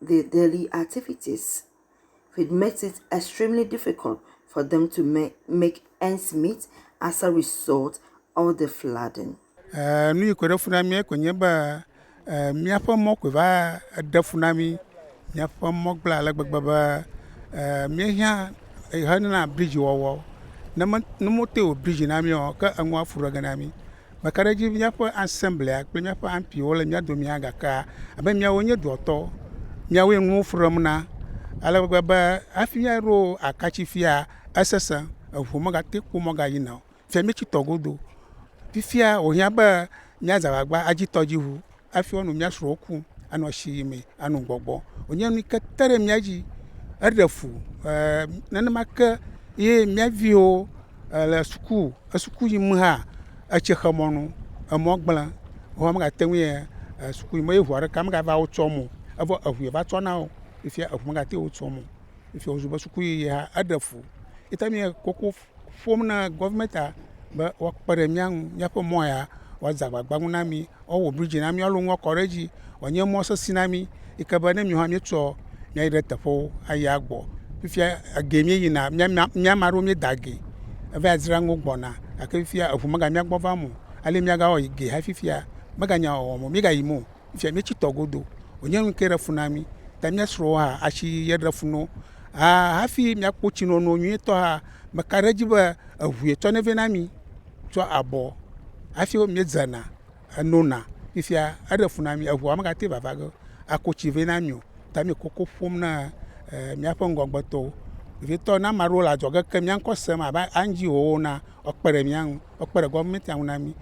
the daily activities which makes it extremely difficult for them to make make ends meet as a result of the flooding. Eh, nu yi kɔɖe fu na mía koe nye be eh, míaƒe mɔ koe va ɖe fu na mí. Míaƒe mɔ gblẽ ale gbegbe be eh, míehiã hena bridzi wɔwɔ. Ne me- ne wote wɔ bridzi na mí o, ke eŋua fu ɖɔ ge na mí. Mekaɖedzi be míaƒe asɛmblea kple míaƒe ampiwo le mía domea gakea abe míawo nye dua tɔ. Míawoe nuwo frem na ale gbegbe be hafi míaɖo akatsi fia esesẽ. Eŋu megate kpo megayina o. Fifia míetsitɔ godoo. Fifia wòhiã be míaza agbagba adzi tɔdziŋu. hafi woanɔ mía srɔ̃wo kum, anɔ asi yi me, anɔ gbɔgbɔ. Wònye nu yi ke te ɖe mía dzi heɖe fu. Ɛɛ nenema ke ye mía viwo le suku suku yim hã etsi xe mɔ nu. Emɔ gblẽ. Woawo megate ŋui suku yim o eye ŋua ɖeka megava wo tsɔm o. Evɔ eŋu yeva tsɔ na wo. Fifia eŋu megate wo tsɔm o. Fifia wòzu be sukuyiyi hã eɖe fu. Ye ta míekoko ƒom na gɔvimɛntia be woakpe ɖe mía ŋu míaƒe mɔ ya woadze agbagba ŋu na mí, woawɔ bridzi na mí, woalɔ nua kɔ ɖe edzi wòanye mɔ sesẽ na mí yi ke be ne míwo hã míetsɔ míayi ɖe teƒewo ayi agbɔ. Fifia egee míeyina míama míame aɖewo míeda ge eva dzra nuwo gbɔna gake fifia eŋu megamia gbɔ vam o. Ale míagawɔ yi ge hafi fifia meganya wɔwɔm o míegayim o. efiɛ mí tsi tɔ godo o nye nuke ɖe funu na mí ta mía srɔwo hã asi ye ɖe funu na wo aa hafi mía kpɔ tsi nono nyuie tɔ hã me ka ɖe edzi be eʋu ye tsɔ nɛ vɛ na mí tsɔ abɔ hafi wo mí dze na eno na fifia eɖe funu na mí eʋua me ga te vava ge ako tsi vɛ na mí o ta mí koko ƒom na mía ƒe ŋgɔgbe tɔwo vevitɔ ne amaɖewo le adzɔge ke mía ŋkɔ sem abe andziwo wo na ekpe ɖe mía ŋu ekpe ɖe gɔmɛnti ŋu na mí.